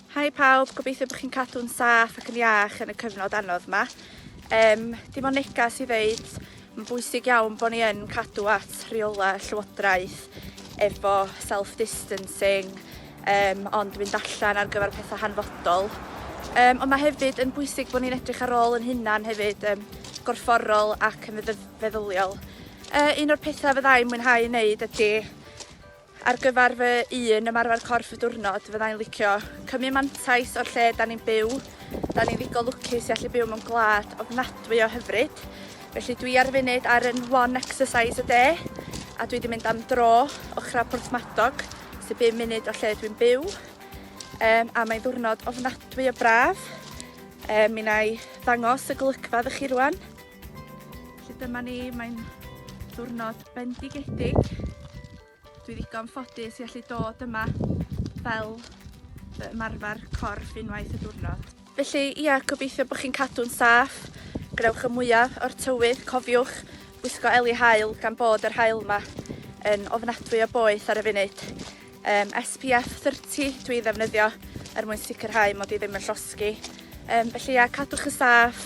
Hi pawb, gobeithio bod chi'n cadw'n saff ac yn iach yn y cyfnod anodd yma. Um, dim ond negas i ddeud, mae'n bwysig iawn bod ni yn cadw at rheolau llywodraeth efo self-distancing, um, ond mynd allan ar gyfer pethau hanfodol. Um, ond mae hefyd yn bwysig bod ni'n edrych ar ôl yn hunan hefyd, um, gorfforol ac yn feddyliol. Uh, un o'r pethau fyddai'n mwynhau wneud ydy Ar gyfer fy un ymarfer corff y diwrnod fydda i'n licio cymryd mantais o'r lle 'dan ni'n byw. 'Dan ni'n ddigon lwcus i allu byw mewn gwlad ofnadwy o hyfryd. Felly dwi ar y funud ar yn one exercise a day a dwi 'di mynd am dro ochra Porthmadog sy bum munud o lle dwi'n byw. Yym a mae'n ddiwrnod ofnadwy o braf. Yy mi 'na i ddangos y golygfa iddo chi rŵan. Felly dyma ni, mae'n ddiwrnod bendigedig. Dwi ddigon ffodus i allu dod yma fel fy ymarfer corff unwaith y diwrnod. Felly, ia, gobeithio bod chi'n cadw'n saff, gwnewch y mwyaf o'r tywydd, cofiwch wisgo eli hael gan bod yr hael yma yn ofnadwy o boeth ar y funud. Um, SPF 30 dwi ddefnyddio er mwyn sicrhau mod i ddim yn llosgi. Um, felly ia, cadwch y saff,